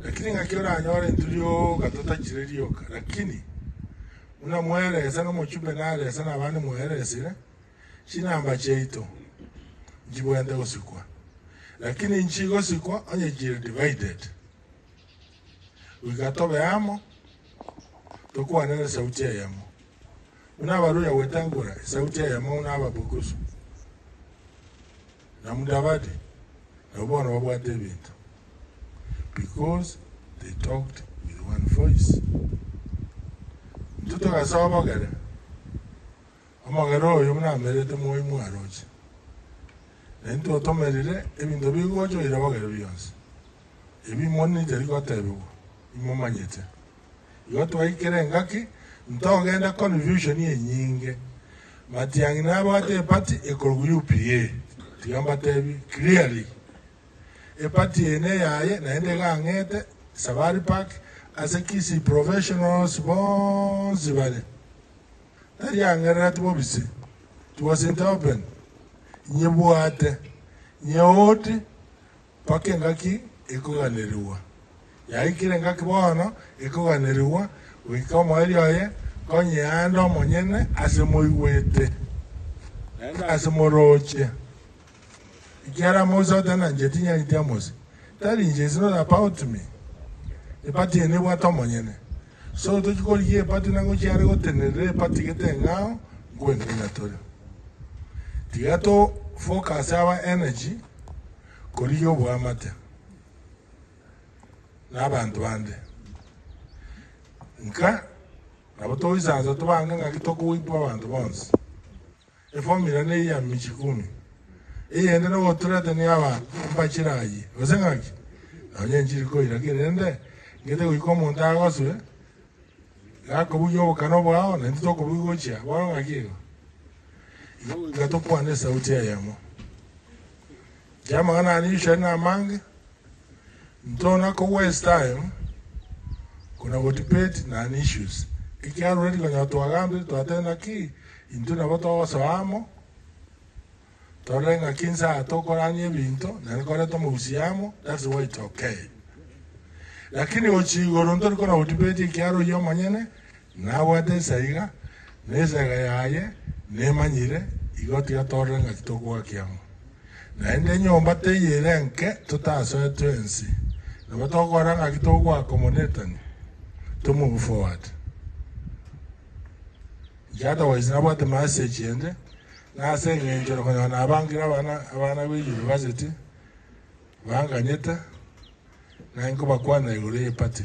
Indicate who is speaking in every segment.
Speaker 1: Lakini ng'aki oranyore intwe rioka totachire rioka, lakini buna mweresa nomochumbe naresa nabande mweresire, chinamba chiaito nchibwenerete gosikwa, lakini inchi gosikwa onye chire divided, goika tobe amo, tokwanere esauti eyemo. buna abaruya gwetangora esauti eyemo buna Ababukusu na Mudavadi, nabo bono babwate ebinto, because they talked with one voice. Intwe togasoa omogera, omogera oyo buna amerete moi mwaroche, na intwe otomerire ebinto bigocha oirabogere bionsi, ebi imoni tari gotebigwa, imomanyete. Igo twaikire engaki, ntogenda confusion enyinge. Matiang'i nabwate eparty ekorwa UPA, tiga mbatebi clearly. Eparty eye neyaye naende iga ang'ete Safari Park ase Kisii professionals bonsi bare. Tari ang'erereti bobisi, it was in the open. Nyebwate, nyeoodi, Mpaka engaki ekoganerigwa. Yaikire engaki bono ekoganerigwa, goika omoerio oye konya eande omonyene ase moigwete, naende ase morooche. Ekiagera amoise otenancheti inyariti amoise, Tell inche is not about me, nipati eye nebwate omonyene, So tochi korigia epati na ngochia are gotenerera epati gete eng'ao nkwenena tore. Tiga to focus our energy korigia oboamate na abanto bande. Nka nabo togoisansa tobange ng'aki tokogoitwa abanto bonsi. Efomira neye ya michi kumi, eyende nogoturete niaba mpachire ayie, gose ng'aki? Nonye nchiri koira ki rende, ng'ete goika omonto agoswe, gakobugia obokano bwao, na intwe tokobugia gochia bono ng'aki igo? Igo goika tokwane esauti eyemo. Chiamang'ana aya ninchiria nere amange. Ntona ko waste time kona go debate non issues. Ekiaro ready konyora twagambire twateba naki intwe nabo togosoa amo torore ngaki ense aya tokorania ebinto naende koreta omogusi amo that's why it's okay. Lakini gochia igoro ntori kona go debate ekiaro oyio omonyene Nabwate ensa iga, na esega yaye nemanyire, igo tigatorire ng'a titogoakia amo. Naende enyomba teiyo ere enke totasoetwe ense, nabo togokora ng'aki togoaka omonetani, tomobufoate. Njatogoise nabwate masechi ende, na ase engencho ere konyora nabangire abana abana be university banganyete, naye nkobakwanera igoro y'epati.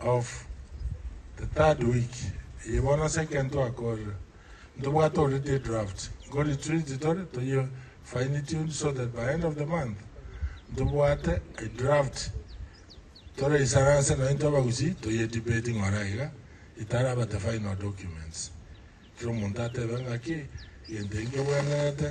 Speaker 1: of the third week eye bono ase ekero twakorire ntobwate already edraft nko retreat tore toye fine tune so that by end of the month ntobwate edraft toraisara ase naye intwe abagusii toye debate ng'ora iga itaraba the final documents kera omonto atebe ng'aki egento eki nkebwenerete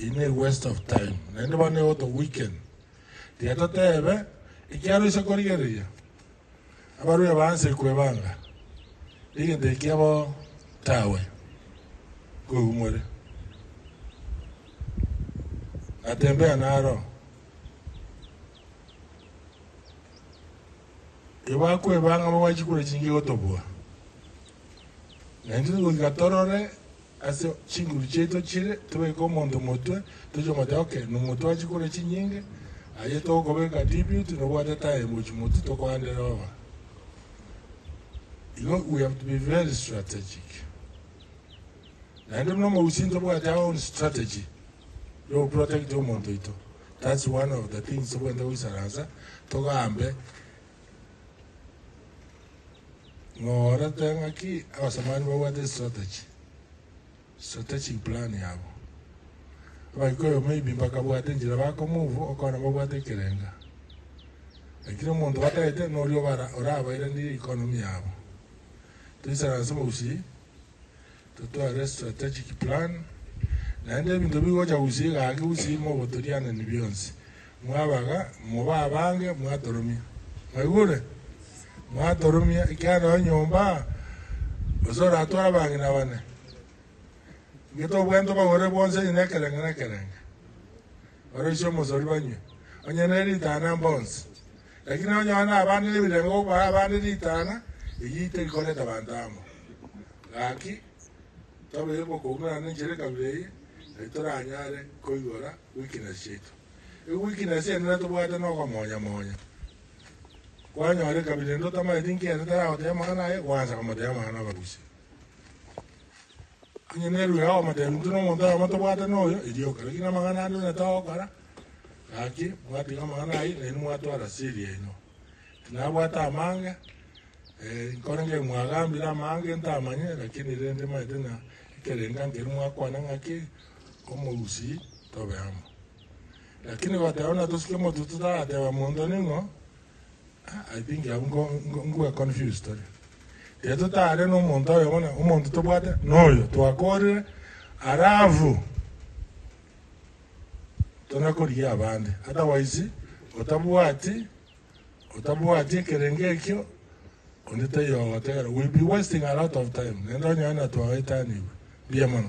Speaker 1: Eye ne waste of time naende bono nigo to weaken. Tiga totebe ekiaro ase korigereria abarwire ba nse kwebanga negento ekia bo tawe. Koigwa more. Natembea naro. Tibakweba ng'a bagwachikure chingigo tobua, na intwe tigoika torore ase chinguru chiaito chire, tobeke omonto omotwe, toche omoteba, Okay, nomotwe achikure chinyinge, aye togokobeka dibiuti, nobwate taye mochi motwe tokoande roba. Igo we have to be very strategic. Naende buna omogusii ntobwate our own strategy y'o protect omonto oito, that's one of the things tobwenerete goisaransa togambe ng'a orete ng'aki abasamani babwate estrategy, strategic plan yabo. Abagikuyu maybe mbakabwate enchera bako move okona babwate ekerenga, lakini omonto batagete noria obara orabairanirie economy yabo. Toisaranse omogusii. totware strategic plan, naende ebinto bigocha gochia egaki gose ime ogotorianani bionsi, mwabaga, mobe abange, mwatoromia. Mwaigure? Mwatoromia, ekiagera enyomba gose oratware abang'ina bane, gete obwenerete obagorere bwonsi onye nekerenge nekerenge, oroisie omosori banywe, onye neritana mbonsi. Lakini onye one nabaanire ebirengo gokobaa abande ritang'a, eyio terikorete abanto amo. Gaki, tobeire kokourana nenchera ekabira eye, naki toranyare koigora weakness chiaito. Ege weakness eye nere tobwate nokomonya monya. Kwanyora ekabira ende otamanyeti nkiya ere taragotebia amang'ana aye, gwansa komotebia amang'ana amagusi. Onye nerue agomoteebia intwe nomonto oyomo tobwate noyo, erio okore gina amang'ana ande onye togokora, gaki mwatiga amang'ana ayio nainwe mwatwara ase eriaino. Tinabwate amange, nkorenge mwagambire amange ntamanye, lakini rende maete ng'a ekerenga nkeri mwakwana ng'aki omogusii tobe amo. Lakini goteeba buna tosike motuo totarateba monto ning'o, I think abwo nko nko nkobua confused tore. Tari totare na omonto oyo bono omonto tobwate noyo twakorire alafu tona korigia abande otherwise otabwati otabwati ekerenge ekio onde taiyo ogotegera will be wasting a lot of time nende onye onye natwagoetanigwe. Mbuya mono.